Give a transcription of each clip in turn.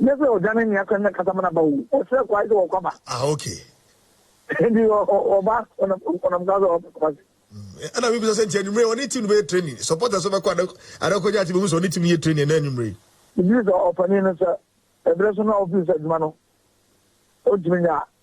Ɛnyɛ sɛ ɔdwane nea asɛm no kasa ma no aba oo, ɔsrɛ kwae sɛ ɔkɔ aba. Ah okay. Nti ɔba ɔnam ɔnam saa sɛ ɔkɔ aba. Ɛna mi bisa sɛ nti anwummere ɔne team no bɛyɛ training, supporters bɛkɔ ada ada kɔgye ate bɛhu sɛ ɔne team no yɛ training ɛna anwummere. Megye di sɛ ɔpanin no sɛ ɛberɛ so no a ɔfiri sɛ adwuma no ɔntumi nyɛ a.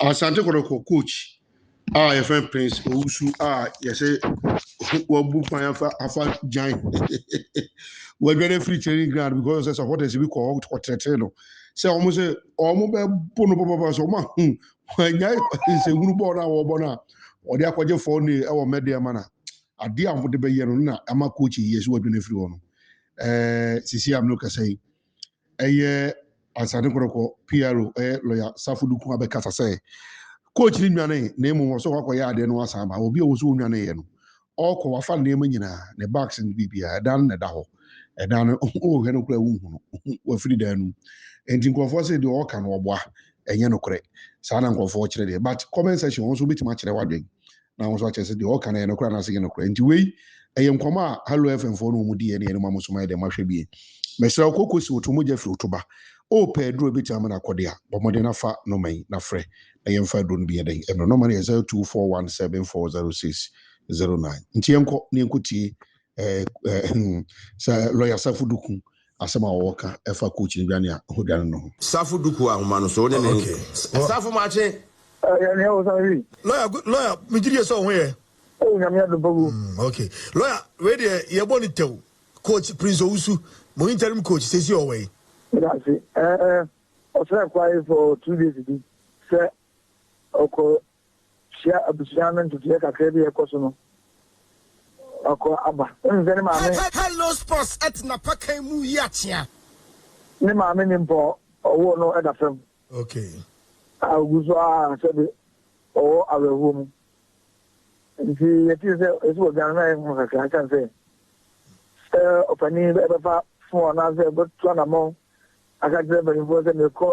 Asante Kɔtɔkɔ coach a yɛfrɛ no Prince Owusu a yɛsɛ wabu kwan afa afa gyan wadwane afiri training ground because sɛ supporters bi kɔ hɔ kɔtrɛtrɛ no sɛ wɔn sɛ wɔn bɛbo no papapa sɛ wɔn ahu wɔanya nsɛnhunu bɔɔl no a wɔbɔ no a wɔde akɔgye fɔɔ ne ɛwɔ mɛdeɛ ma na adeɛ a wɔde bɛyɛ no na ama coach yi yɛ sɛ wadwane afiri hɔ no ɛɛ sisi a mene kasa yi ɛyɛ Ansane Korɔkɔ, PRO, ɛyɛ lɔya Safo Duku abɛkasa sɛ coach no nnwanee na mmom ɔsɛ ɔkɔkɔyɛ adeɛ na wasan aba. Obi a ɔwɔ sɛ ɔnnwaneeɛ no, ɔkɔ, wafa ne nneɛma nyinaa, ne bags ne biribiara, ɛdan no na ɛda hɔ. Ɛdan no, wohwɛ no koraa wonhu no, wafiri dan no mu. Enti nkurɔfoɔ se deɛ ɔka no ɔboa, ɛnyɛ nokorɛ. Saa na nkurɔfoɔ kyerɛ deɛ. But comment section wɔn nso wobɛtumi akyerɛ w'adwene. na ahosuo akyerɛ sɛ deɛ ɔka no ɛyɛ nokorɛ anaasɛ ɛnyɛ nokorɛ nti wei ɛyɛ nkɔmɔ a hallow fm foɔ no wɔn di yɛ ne yɛn ma mo so ma yɛ dɛ mahwɛ bie mɛsrɛ wo koko si woto mogya firi woto ba o pɛ aduro bɛtumi ama no akɔde a bɔ mmɔden na fa nɔma yi na frɛ na yɛn fa aduro no bi yɛ dɛn ɛno nɔma no yɛ zero two four one seven four zero six zero nine nti yɛn kɔ na yɛn kɔ tie Eh eh hmm sɛ lɔya Safo Duku asɛm a ɔwɔ ka ɛfa coach no dwane a ho dwane no ho. Safo Duku ahoma no so wo ne ne nka. Eh Safo Maakye. Eh yɛ nea ɔsan wi. Lɔya good lɔya me gye die sɛ ɔho yɛ. Oh Nyame adom pa gu. Hmm ok lɔya wei deɛ yɛ bɔ no tɛw coach Prince Owusu mo interim coach seesei ɔwɔ he. Meda ase eh eh ɔsrɛ kwae for two days bi sɛ ɔkɔ hyia abusua no nteteɛ kakra bi a ɛkɔ so no akɔ aba. Wonim sɛ ne maame. Hello sports at napakan mu yi akyea. Ne maame nim pɔ ɔwoo no da fam. Okay. A ogu so a sɛde ɔwɔ awerɛhoɔ mu. Nti yɛtee sɛ ɛsi wɔ Ghana na yɛ ho kakra ɛsiane sɛ sɛ ɔpanin ɛbɛfa fon anaasɛ ɛbɛto anammɔn aka kyerɛ mpanimfoɔ sɛ mekɔ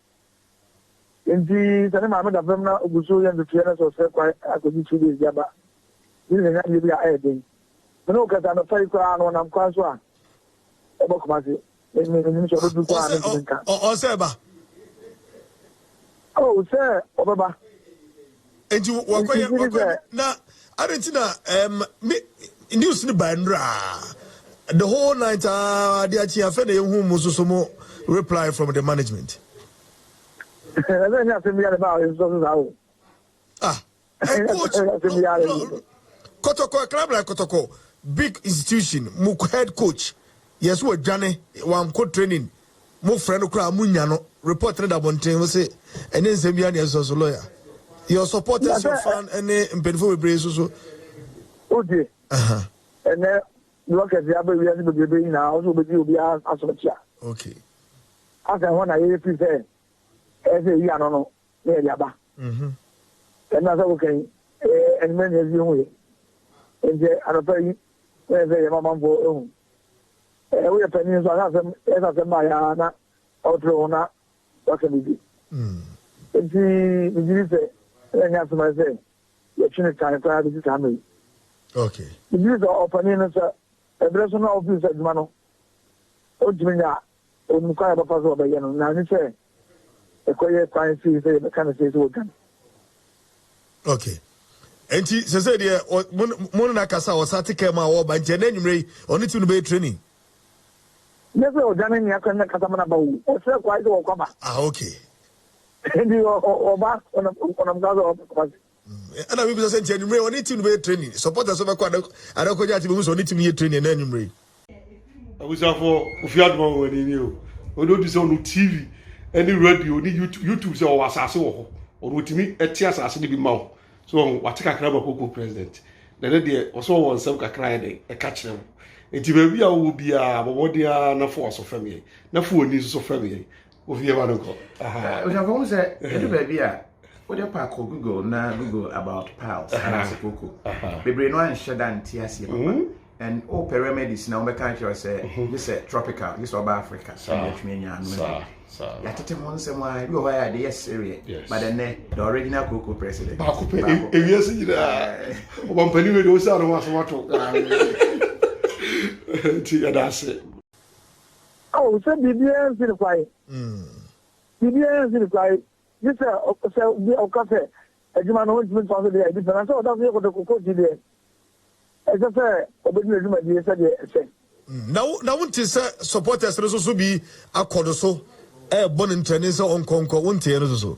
Enti sɛ ne maame da fam na ogu so yɛ ntotoeɛ na sɛ ɔsrɛ kwan akɔgye two days de aba, gye sɛ yɛnya adeɛ bi a ɛyɛ den. Me ne wo kasa anɔpa yi koraa no ɔnam kwan so a ɛbɔ Kumasi. Me me menim sɛ ɔbɛduru kwan a mentumi nka. Ɔsɛ ɔsɛ ba. Oh sɛ ɔbɛba. Enti wakɔyɛ wakɔyɛ na adi ti na ɛɛm ne news ne ba nnura the whole night aa adi akyi afɛ na ehu mu soso mu reply from the management. Ɛsɛ ɛnyɛ asɛm biara ba a ɔyɛ soso saa o. Ah, ɛ coach no kɔtɔkɔ ɛkrabra kɔtɔkɔ big institution mu head coach yɛ so wadwane wanko training Mo frɛ no koraa a mo nya no. Report no da abɔnten mo se ɛnyɛ nsɛm biara na ɛsɔ so lawyer your supporters your fan ɛne mpanyinfoɔ bebree so so. Wotie ɛnɛ blockers yɛ abɛ wiase bebrebe nyinaa ɔsɛ obedi obi asɔkyia. Okay. Asɛn hɔ na yɛyɛ fi sɛ ɛsɛ eyi ano no na yɛde aba. Ɛnna sɛ woka yi ɛnumɛ na ɛsi ehu yɛ nti anɔpa yi na yɛ sɛ yɛ mamanfoɔ ehu. Eh, woyɛ panyin nso aka asɛm, ɛsɛ asɛm ma ayɛ ara na ɔtere ho na waka biribi. Enti megye di sɛ ɛna nyɛ asɛm ayɛ sɛ yɛtwe ne tan koraa bɛsi saa mmere yi. Megye di sɛ ɔpanin no sɛ ɛberɛ so no a ɔfiri sɛ adwuma no ɔntumi nya Ɛwɔ mu kwan a ɛbɛfa so a ɔbɛyɛ no, na ɛne sɛ ɛkɔyɛ kwan fii sɛ yɛbɛka no sei sɛ ɔdwane. ok nti sese deɛ mo ne nakasa ɔsa te kɛm a ɔba nti ɛnɛ nwumere yi ɔne ti no bɛyɛ training. nyɛ sɛ ɔdwane nea kɔ ne nakasa ma no aba o ɔsrɛ kwae sɛ wɔkɔ aba. ah ok. nti ɔba ɔnam kwa sɛ ɔba kumase. ɛna mebisa sɛ nti anwummere ɔne tim no bɛyɛ training supporters bɛkɔ adakɔgya ate bɛhu sɛ ɔne tim no yɛ training ɛna anwummere abusuafoɔ ofi adoma wɔ ani ni o ɔne ɔdi sɛ ɔno tv ɛne radio ne youtube sɛ ɔwɔ asase wɔ hɔ ɔno ɔtumi ɛte asase no bi ma wo so ɔho wate kakra ma koko president na ne deɛ ɔsɛ ɔwɔ nsɛm kakra yɛ dɛn ɛka kyerɛ wo ɛti baabi a wowɔ biaa bɔbɔde a na fo aso fam yɛn na fo ani nso so fam yɛn wofie ma no kɔ abusuafo ho sɛ ɛdu baabi a wode pa kɔ google na google about piles anaasɛ koko bebree no anhyɛ da nte aseɛ papa hmm? and o pɛ remedies na wobɛka akyerɛ sɛ gye sɛ tropical gye sɛ ɔba africa sɛ yɛtumi anya ano yɛatete ho nsɛm a bi wɔ hɔ a yɛde yɛ sereɛ but ɛnɛ the original koko president baako pɛ ɛwia se nyinaa ɔbampani wei de wo sɛ ano ho asɛm ato nti yɛda ase Ao, sɛ biribiara nsi no kwan, biribiara nsi no kwan, gye sɛ sɛ obi a ɔka sɛ adwuma no ɔntumi ntoa so deɛ adi pɛ, na sɛ ɔda so yɛ kotokokoɔ nti deɛ, ɛsɛ sɛ ɔbɛdi n'adwumadie sɛdeɛ ɛsɛ. Na wo na wonte sɛ supporters no soso bi akɔ no so ɛrebɔ no ntɛne sɛ ɔnkɔ nkɔ, wonteɛ no soso?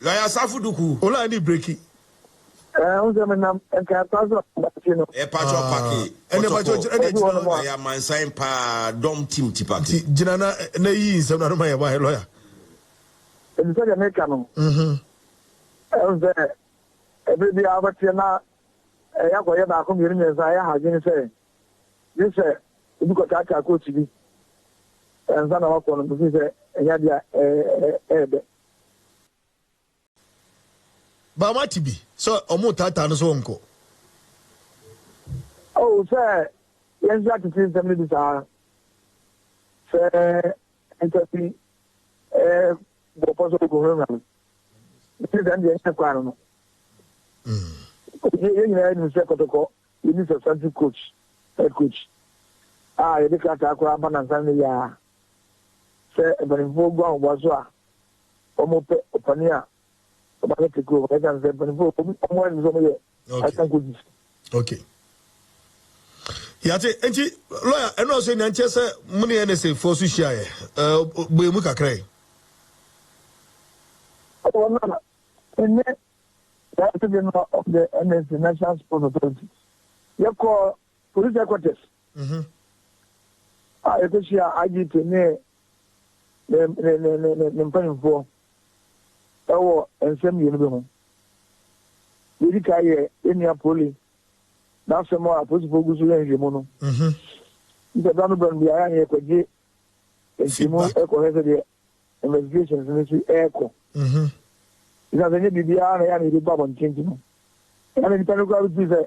Lɔya Asafo Duku. Ola ɛne breki. Ɛɛ wosɛ me nam ɛka ɛkwa so abakyi no. Ɛɛ patro pake. Ɛne patro gyina ɛne akyi no. Ɛyɛ amansan paa dɔm team ti pake. Ti gyina na na yi nsɛm na anoma yɛ ba yɛ lɔya. Ɛdi sɛ deɛ me ka no. Mhm. Ɛn sɛ ɛbɛ bi a wobɛteɛ na ɛyɛ akɔ yɛ baako mmienu mmiɛnsa ɛyɛ ha dwene sɛ gye sɛ obi kɔ kyaakyaa coach bi ɛnsa na wakɔ no mefiri sɛ ɛnyɛ adeɛ ɛɛdɛ. Ba wate bi sɛ ɔmo taataa no sɛ ɔnkɔ. Oh sɛ yɛn nso yɛatete nsɛm no bi saa sɛ nnipa bi eh, bɔ pɔ sɛ ɔkɔhurahura no mese sɛ ɛndeɛ nyɛ kwan no no yɛn nyinaa nim sɛ kɔtɔkɔ yɛni substantive coach head coach a yɛde krataa koraa ba nansa no yɛ a Sɛ mpanyimfo guan wɔn aso a, wɔpɛ ɔpanyin a ɔba bɛte kurom no. Ɛsiane sɛ mpanyimfo wɔn ani so wɔyɛ asankodi. Okay. Yate nti lawyer ɛno ɔsɛ nya nkyɛ sɛ mo ne NSA fo so hyia yɛ. Eh boye mu kakra yi. Ɔwɔ na ɛne yɛn ase de no ɔde NSA National Sports Authority. Yɛkɔ Police headquarters a yɛkɔhyia IGP ne ne mpanyimfoɔ wɔ nsɛm mmienu bi ho. Yɛdi ka yɛ yɛnua Poli n'asɛm a apolisifoɔ gu so yɛ nhwehwɛmu no. Nti berɛ no berɛ no biara ne yɛkɔgye ntimu kɔhwɛ sɛdeɛ investigations no si ɛrekɔ. Ɛsiane sɛ nyɛ biribiara na yɛ a na yɛbɛbu abɔnten nti no, ɛna nnipa no koraa bɛtumi sɛ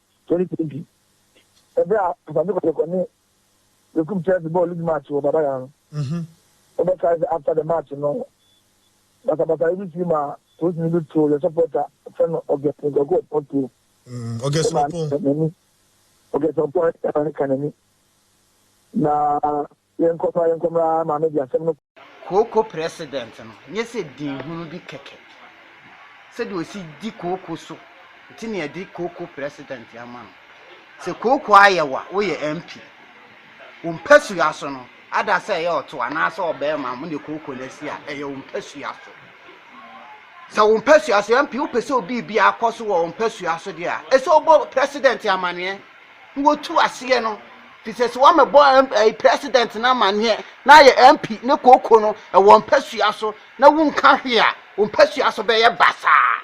2020, bere a Kwame Kotoko ne Bekum Chelsea bɔɔ league match wɔ Baba Yara no, wɔbɛkae sɛ after the match no, basabasayɛ bi sii maa polisini bi too yɛn supporter fɛ no August Nkoku Opon tuo. Mm, August Opon. August Opon ɛma ne ka n'ani. Na Yɛnkɔ fa yɛnkɔ mmra maame de asɛm no kɔ. Kooko president no nyɛ sɛ din hunu bi kɛkɛ. Sɛdeɛ ɔsi di kooko so nti na yɛde kooko president ama no. Sɛ kooko ayɛ wo a, woyɛ MP. Wo mpasua so no, ada sɛ ɛyɛ ɔto anaasɛ ɔbarima a mo ne kooko no asi a, ɛyɛ wo mpasua so. Sɛ wo mpasua so, MP, wopɛ sɛ obi biribi akɔ so wɔ wo mpasua so deɛ a, ɛsɛ wobɔ president amaneɛ. na wɔtu aseɛ no firi sɛ sɛ wɔamɛbɔ ɛyi president no amaneɛ na ayɛ mp ne kooko no ɛwɔ mpasua so na wonka hwee a wɔn mpasua so bɛyɛ basaa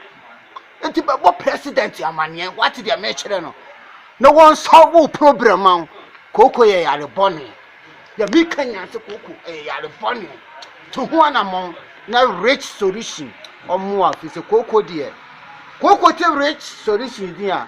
nti bɛbɔ president amaneɛ wate deɛ mekyerɛ no na wɔnsɔ wo problem ma wo kooko yɛ yare bɔne deɛ meka nyinaa sɛ kooko ɛyɛ yare bɔne to ho anammɔn na rich solution ɔmmoa firi sɛ kooko deɛ kooko te rich solution din a